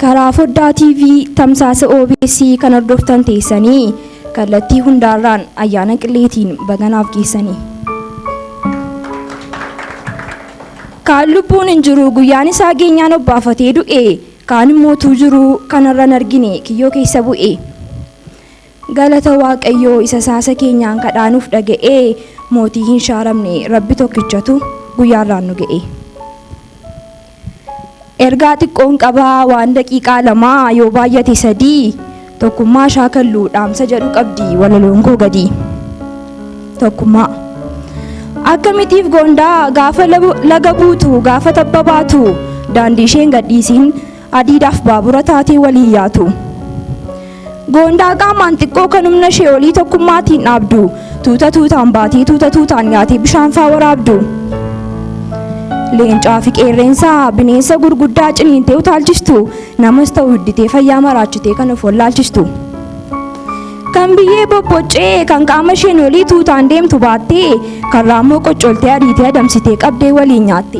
Karaa foddaa TV tamsaasa OBS kan hordoftan teessanii kallattii hundaarraan ayyaana qilleetiin baganaaf geessanii. Kaan lubbuun hin jiru guyyaan isaa geenyaan obbaafatee du'e kaan immoo tuu jiru kanarran argine kiyyoo keessa bu'e. Galata waaqayyoo isa saasa keenyaan kadhaa nuuf dhaga'ee mootii hin shaaramne rabbi tokkichatu guyyaa irraan nu ga'ee. Ergaa xiqqoon qabaa waan daqiiqaa lamaa yoo baay'ate sadii tokkummaa shaakallu dhaamsa jedhu qabdi walaloon koo gadii. Tokkummaa. Akkamitiif goondaa gaafa laga buutu gaafa tabba baatu daandii isheen gadhiisiin Adiidaaf baabura taatee waliin yaatu. Goondaa qaamaan xiqqoo kan humna ishee olii tokkummaatiin dhaabdu. Tuuta tuutaan baatee tuuta tuutaan nyaatee bishaan faa waraabdu. Leencaa fi qeerreensaa bineensa gurguddaa ciniintee utaalchistu. Namas ta'u hidditee fayyaa maraachitee kan of wallaalchistu. Kan biyyee bobboccee kan qaama isheen olii tuutaan deemtu baattee kan raammoo qoccoltee ariitee adamsitee qabdee waliin nyaatte.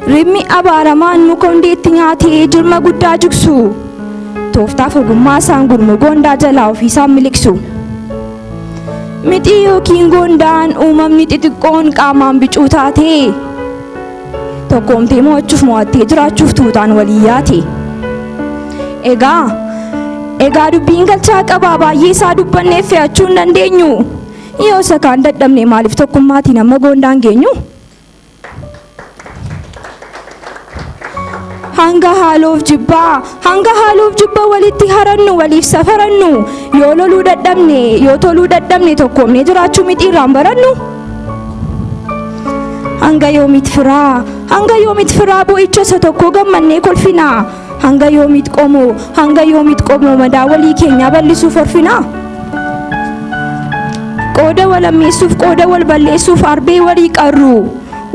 Ribni abaaramaan muka hundee itti nyaatee jirma guddaa jigsu. Tooftaaf ogummaa isaan gurmuu goondaa jalaa ofiisaan miliqsu. Mixii yookiin goondaan uumamni xixiqqoon qaamaan bicuu taate. Tokkoomtee mo'achuuf mo'attee jiraachuuf tuutaan walii yaate. Egaa egaa dubbiin galchaa qabaa baay'ee isaa dubbannee fe'achuu hin dandeenyu. Yoo isa kaan dadhabne maaliif tokkummaatiin amma goondaan geenyu? hanga haaloof jibbaa hanga haaloof jibba walitti harannu waliif safarannu yoo loluu dadhabne yoo toluu dadhabne tokkoomne jiraachuu miti irraan barannu hanga yoomit firaa hanga yoomit firaa bo'icha isa tokkoo gammannee kolfinaa Hanga yoomiit qomoo hanga yoomiit qomoo madaa walii keenyaa bal'isuuf horfinaa? Qooda wal ammeessuuf qooda wal balleessuuf arbee walii qarru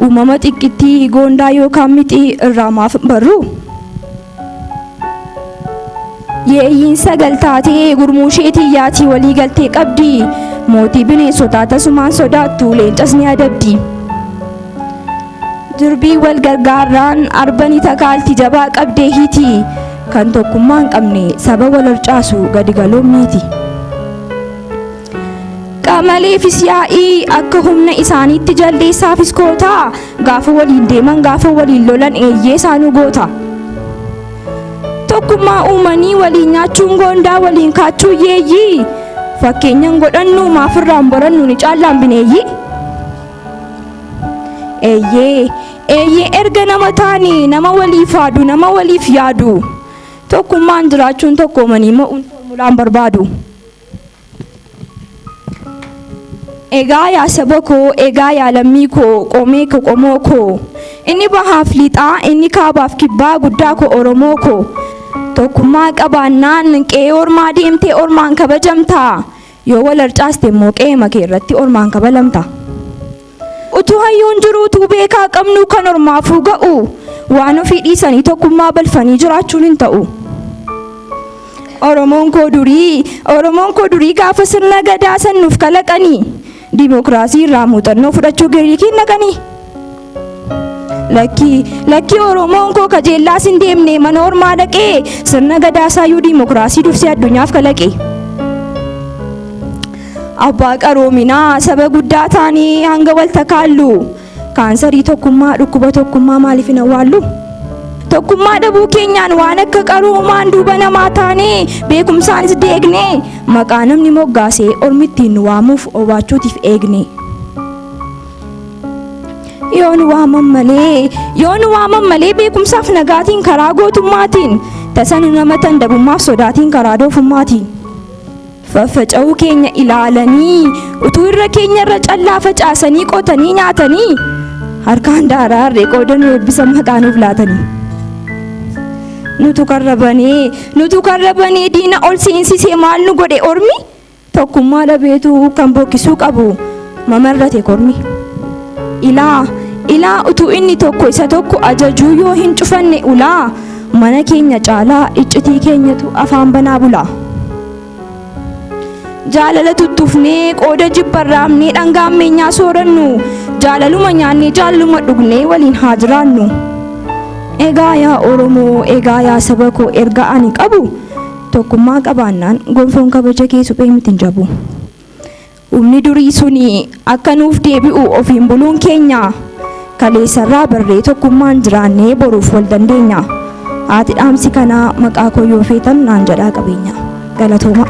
uumama xiqqittii goondaa yookaan mixii irraa maaf barru? Yeeyyiin sagal taatee gurmuu isheetii yaatii walii galtee qabdi mootii bineensotaa tasumaan sodaattu leencas ni adabdi. Durbii wal gargaarraan arbani takaalti jabaa qabdee hiti kan tokkummaa hin qabne saba wal harcaasu gadi galoon miiti. Qamaleefis yaa'ii akka humna isaaniitti jaldeessaafis kootaa gaafa waliin deeman gaafa waliin lolan eeyyee isaanuu goota. Tokkummaa uumanii waliin nyaachuun goondaa waliin kaachuu yeeyyii fakkeenyan godhannu maafirraan borannu ni caallaan bineeyyii. Eeyyee, eeyyee erga nama taane nama waliif haadu, nama waliif yaadu. Tokkummaan jiraachuun tokkoomanii mo'uun foormulaan barbaadu. Egaa yaa saba koo, egaa yaa lammii koo, qomee koo qomoo koo. Inni bahaaf lixaa, inni kaabaaf kibbaa guddaa koo Oromoo koo. Tokkummaa qabaannaan qe'ee ormaa deemtee ormaan kabajamtaa. Yoo wal harcaaste immoo qe'eema kee irratti ormaan kabalamta. Utuu hayyuun jiru utuu beekaa qabnu kan ormaafuu ga'u waan ofii dhiisanii tokkummaa balfanii jiraachuun hin ta'u. Oromoon koo durii Oromoon koo durii gaafa sirna gadaa san nuuf kalaqanii dimokiraasii irraa muuxannoo fudhachuu Giriikiin dhaqanii. Lakkii lakkii Oromoon koo kajeellaa sin deemne mana ormaa dhaqee sirna gadaasaa yuu diimokiraasii dursee addunyaaf kalaqe. Abbaa qaroominaa saba guddaa taanii hanga wal takaallu kaansarii tokkummaa dhukkuba tokkummaa maaliif hin awwaallu? Tokkummaa dhabuu keenyaan waan akka qaroomaan duuba namaa taanee beekumsaanis deegne maqaa namni moggaasee ormi ittiin nu waamuuf obaachuutiif eegne. yoon waaman malee yoon waaman malee beekumsaaf nagaatiin karaa gootummaatiin tasanu nama tandabummaaf sodaatiin karaa doofummaatiin faffaca'uu keenya ilaalanii utuu irra keenya irra callaa facaasanii qotanii nyaatanii harkaan daaraa harree qoodanuu eebbisa maqaa nuuf laatanii. nutu karrabanee nutu karrabanee diina ol seensisee maal nu godhe ormi Tokkummaa dhabeetu kan bokkisuu qabu mamarrate kormi. Ilaa, ilaa utuu inni tokko isa tokko ajajuu yoo hin cufanne ulaa mana keenya caalaa iccitii keenyatu afaan banaa bula. Jaalala tuttuufnee qooda jibba raafnee dhangaa ammeenyaa soorannu jaalaluma nyaannee jaaluma dhugnee waliin haa jiraannu. Egaa yaa Oromoo, egaa yaa saba koo erga ani qabu Tokkummaa qabaannaan gonfoon kabaja kee suphee miti hin cabu. Humni durii suni akka nuuf deebi'u ofiin buluun keenya kaleessarraa barree tokkummaan jiraannee boruuf wal dandeenya. Haati dhaamsi kanaa maqaa koo yoo feetan naan jedhaa qabeenya. Galatoomaa.